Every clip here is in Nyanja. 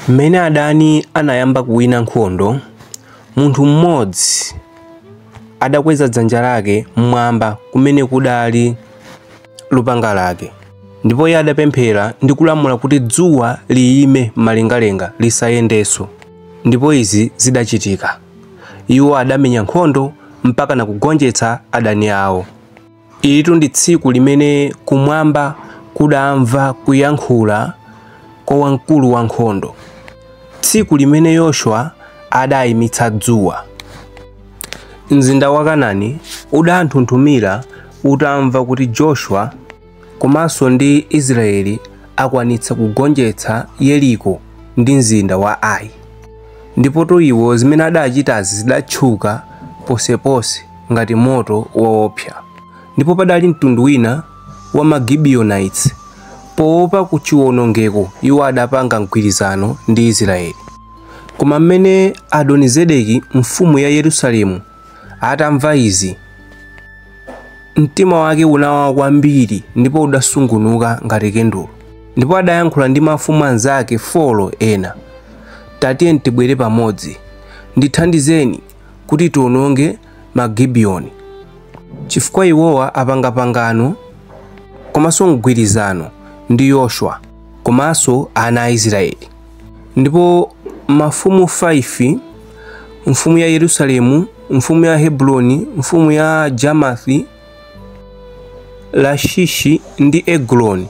Mmene adani anayamba kuwina nkhondo, munthu mmodzi adakweza dzanja lake m'mwamba kumene kudali lupanga lake. Ndipo iye adapemphera ndi kulamula kuti dzuwa liyime m'malengalenga, lisayendenso. Ndipo izi zidachitika. Iwo adamenya nkhondo mpakana kugonjetsa adani ao. Ilitu ndi tsiku limene kumwamba kudamva kuyankhula kwa wamkulu wa nkhondo, tsiku limene Yoshua adaimitsa dzuwa. Mzinda wa Kanani udanthunthumira utamva kuti Joshua komanso ndi Israeli akwanitsa kugonjetsa Yeriko ndi mzinda wa Ai. Ndipotu iwo zimene adachitazi zidatchuka ponseponse. ngati moto woopsa. Ndipo padali mtundu wina wa ma Gibeonites, poopa ku chiwonongeko, iwo adapanga mgwirizano ndi Israeli. Koma m'mene Adonizedeki mfumu ya Yerusalemu atamva izi, mtima wake unawawa kwambiri ndipo udasungunuka ngati kendulo. Ndipo adayankhula ndi mafumu anzake 4 ena, Tatiyeni tibwere pamodzi, ndithandizeni kuti tiononge ma Gibeoni, chifukwa iwowa apanga pangano komanso mgwirizano ndi Yoshua komanso ana a Israeli. Ndipo mafumu 5 mfumu ya Yerusalemu, mfumu ya Hebroni, mfumu ya Jamathi, Lashishi ndi Eguloni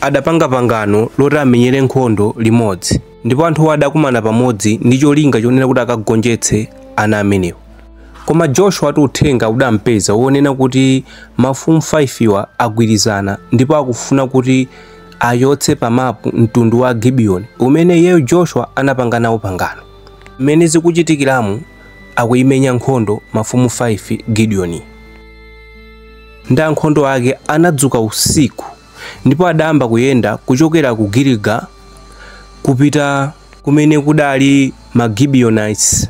adapanga pangano loti amenyere nkhondo limodzi. ndipo anthuwo adakumana pamodzi ndi cholinga chonena kuti akagonjetse ana amenewa koma joshua ati uthenga udampeza wonena kuti mafumu 5wa agwirizana ndipo akufuna kuti achotse pamapu mtundu wa gibeoni umene iyeyo joshua anapanga nawo pangano mmene zikuchitikiramu akuimenya nkhondo mafumu 5 gidiyoni ndi ankhondo ake anadzuka usiku ndipo adayamba kuyenda kuchokera ku Giliga kupita kumene kudali ma Gibeonites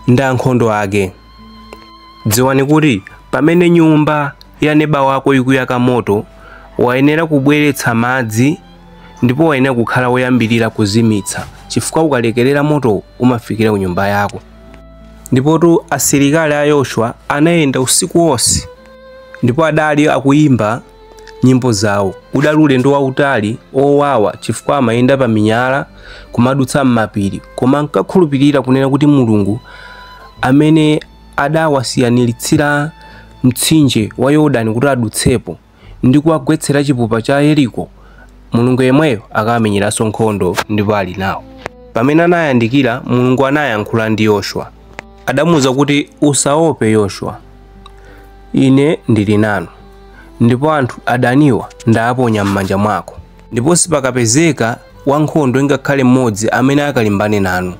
ndi ankhondo ake. Dziwani kuti pamene nyumba ya neba wako ikuyaka moto, wayenera kubweretsa madzi ndipo wayenera kukhala woyambirira kuzimitsa, chifukwa ukalekerera moto umafikira ku nyumba yako. Ndipotu asilikali a Yoshua anayenda usiku wonse ndipo adali akuyimba nyimbo zawo. Udali ulendo wautali, owawa chifukwa amayenda pa minyala, kumadutsa m'mapiri, koma ankakhulupirira kunena kuti Mulungu amene adawasiyaniritsira mtsinje wa Yorodani kuti adutsepo ndi kuwagwetsera chipupa cha Yeriko, Mulungu yemweyo akamenyeranso nkhondo ndipo ali nawo. Pamene anayandikira, Mulungu anayankhula ndi Yoshua. Adamuuza kuti, Usaope, Yoshua. Ine ndili nanu, ndipo anthu adaniwa ndaaponya m'manja mwako. Ndipo sipakapezeka wankhondo ngakhale mmodzi amene akalimbane nanu.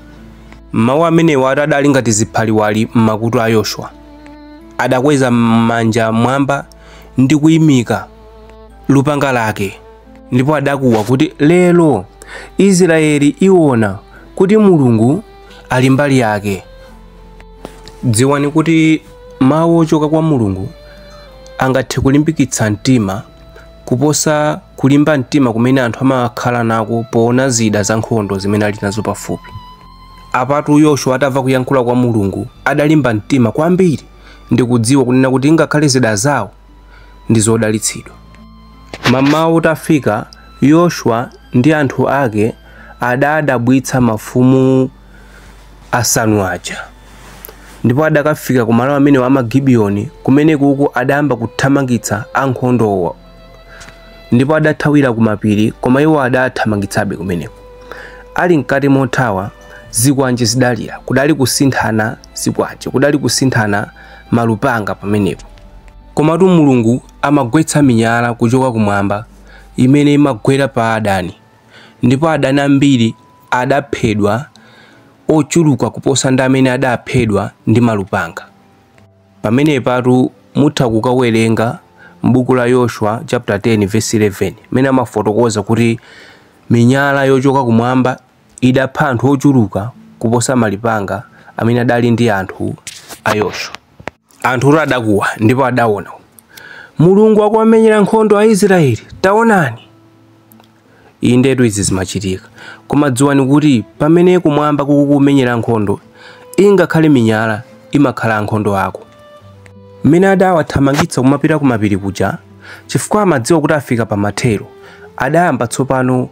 Mau amenewatu adali ngati ziphaliwali m'makutu a Yoshua. Adakweza manja m'mwamba ndi kuimika lupanga lake, ndipo adakuwa kuti, Lero Israyeli iona kuti Mulungu ali mbali yake dziwani kuti mawu ochoka kwa mulungu angathe kulimbikitsa mtima kuposa kulimba mtima kumene anthu amakhala nako poona zida za nkhondo zimene ali nazo pafupi apatu yoshua atamva kuyankhula kwa mulungu adalimba mtima kwambiri ndikudziwa kunena kuti ngakhale zida zawo ndi zodalitsidwa. Mmawa utafika, Yoshua ndi anthu ake adaadabwitsa mafumu asanu aja. Ndipo adakafika ku malo amenewo a Magibiyoni, kumenekuku adayamba kuthamangitsa ankhondowo. Ndipo adathawira ku mapiri, koma iwo adaathamangitsabe kumeneko. Ali mkati mothawa, zikwanje zidalira. Kudali kusinthana zikwanje, kudali kusinthana malupanga pamenepo. Komatu Mulungu amagwetsa minyala kuchoka kumwamba imene imagwera pa adani, ndipo adani ambiri adaphedwa ochuluka kuposa ndi amene adaphedwa ndi malupanga. Pamenepatu mutha kukawerenga m'buku la Yoshua chapter 10 verse 11 mene amafotokoza kuti minyala yochoka kumwamba idapha anthu ochuluka kuposa malupanga amene adali ndi anthu a Yoshua. Anthutu adakuwa ndipo adaona. Mulungu akuwamenyera nkhondo Aisraele, taonani! Indetu izi zimachitika. Koma dziwani kuti pamene kumwamba kukukumenyera nkhondo, ingakhale minyala imakhala ankhondo ako. Mmene adawathamangitsa kumapita kumapiri kuja, chifukwa amadziwa kuti afika pamathero, adayamba tsopano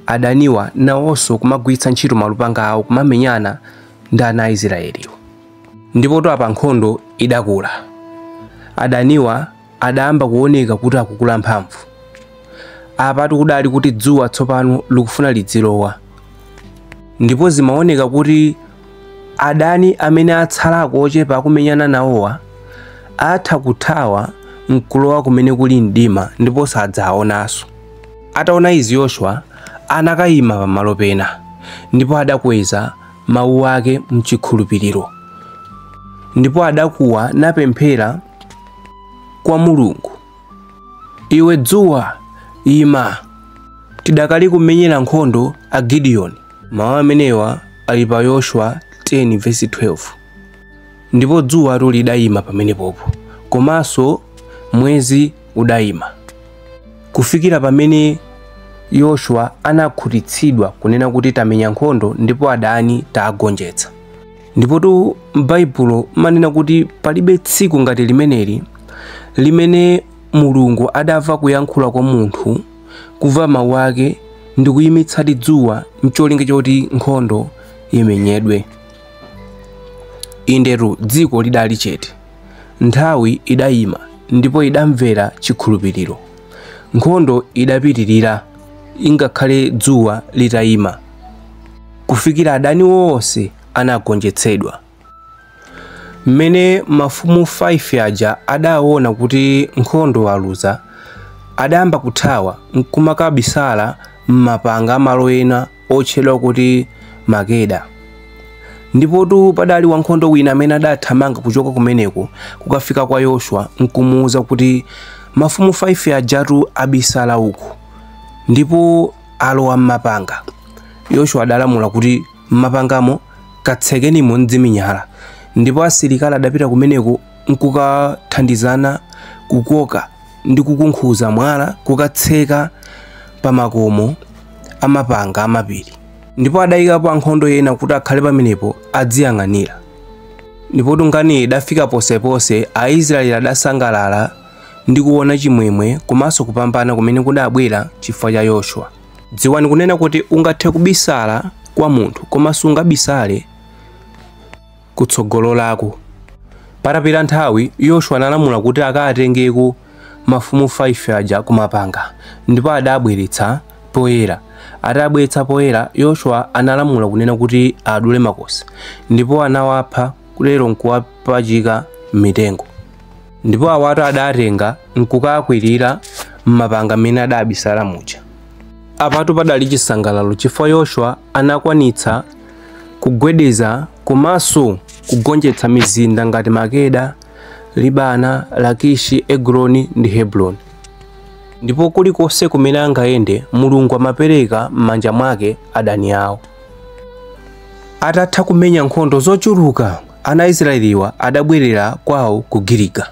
adaniwa nawonso kumagwiritsa ntchito malupanga awo kumamenyana ndi ana a Israeliwo. Ndipotu apa nkhondo idakula. Adaniwa adayamba kuoneka kuti akukula mphamvu. Apatu kudali kuti dzuwa tsopano likufuna lidzilowa. Ndipo zimaoneka kuti adani amene atsalako ochepa akumenyana nawowa atha kuthawa n'kulowa kumene kuli mdima ndipo sadzawaonanso. Ataona izi Yoshua anakayima pamalo pena, ndipo adakweza mawu ake m'chikhulupiriro, ndipo adakuwa napemphera kwa Mulungu, Iwe dzuwa, ima, tidakali kumenyera nkhondo a Gidiyoni. Mawu amenewa ali pa Yoshua 10 vesi 12. Ndipo dzuwatu lidayima pamenepopo, komanso mwezi udayima, kufikira pamene Yoshua anakhutitsidwa kunena kuti tamenya nkhondo ndipo adani taagonjetsa. Ndipotu m'Baibulo imanena kuti palibe tsiku ngati limeneli limene Mulungu adamva kuyankhula kwa munthu, kumva mawu ake ndi kuyimitsadi dzuwa n'cholinga choti nkhondo imenyedwe. Indetu, dziko lidali chete, nthawi idayima ndipo idamvera chikhulupiriro. Nkhondo idapitirira ingakhale dzuwa litayima, kufikira adani onse anagonjetsedwa. Mmene mafumu 5 aja adaona kuti nkhondo aluza, adayamba kuthawa n'kumakabisala m'mapanga a malo ena otchedwa kuti Makeda. Ndipotu padali wankhondo wina amene adathamanga kuchoka kumeneko kukafika kwa Yoshua nkumuuza kuti mafumu 5 ajatu abisala uku ndipo alowa m'mapanga. Yoshua adalamula kuti m'mapangamo katsekenimo ndi zimiyala ndipo asilikali adapita kumeneko nkukathandizana kukoka ndi kukunkhuza mwala kukatseka pa makomo amapanga amapiri ndipo adayikapo ankhondo ena kuti akhale pamenepo adziyang'anira ndipo tu nkhaniyi idafika ponseponse aisraeli adasangalala ndi kuona chimwemwe komanso kupambana kumene kudabwera chifukwa cha yoshua dziwani kunena kuti ungathe kubisala kwa munthu koma sungabisale kutsogololako. Patapita nthawi, Yoshua analamula kuti akaatengeko mafumu 5 aja kumapanga, ndipo adaabweretsa poyera. Ataabweretsa poyera, Yoshua analamula kunena kuti aadule makosi, ndipo anawapha kutero nkuwapachika m'mitengo. Ndipo awatu adaatenga nkukaakwirira m'mapanga m'mene adaabisala muja. Apatu padali chisangalalo chifukwa Yoshua anakwanitsa kugwedeza komanso kugonjetsa mizinda ngati Makeda, Libana, Lakishi, Egiloni ndi Hebroni. Ndipo kulikonse kumene angayende, Mulungu amapereka m'manja mwake adani awo. Atatha kumenya nkhondo zochuluka, ana a Israeliwa adabwerera kwawo ku Giliga.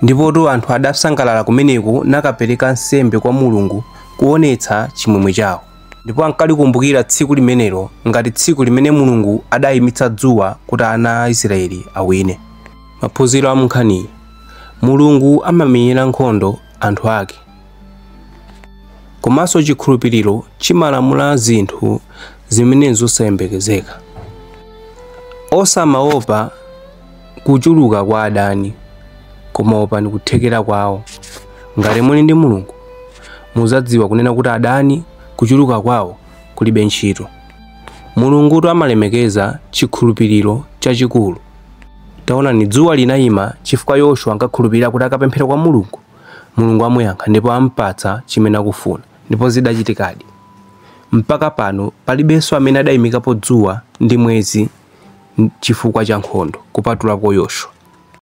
Ndipotu anthu adasangalala kumeneko nakapereka nsembe kwa Mulungu kuonetsa chimwemwe chawo. ndipo ankalikumbukira tsiku limenelo ngati tsiku limene mulungu adayimitsa dzuwa kuti ana a israeli awine maphunziro a munkhaniyi mulungu amamenyera nkhondo anthu ake komanso chikhulupiriro chimalamula zinthu zimene zosayembekezeka osamaopa kuchuluka kwa adani, koma opani kuthekera kwawo. Ngati muli ndi Mulungu, muzadziwa kunena kuti adani kuchuluka kwawo kulibe ntchito. Mulungutu amalemekeza chikhulupiriro chachikulu. Taonani, dzuwa linayima chifukwa Yoshua ankakhulupirira kuti akapemphera kwa Mulungu, Mulungu amuyankha ndipo ampatsa chimene akufuna. Ndipo zidachitikadi. Mpaka pano palibenso amene adayimikapo dzuwa ndi mwezi chifukwa cha nkhondo kupatulako Yoshua.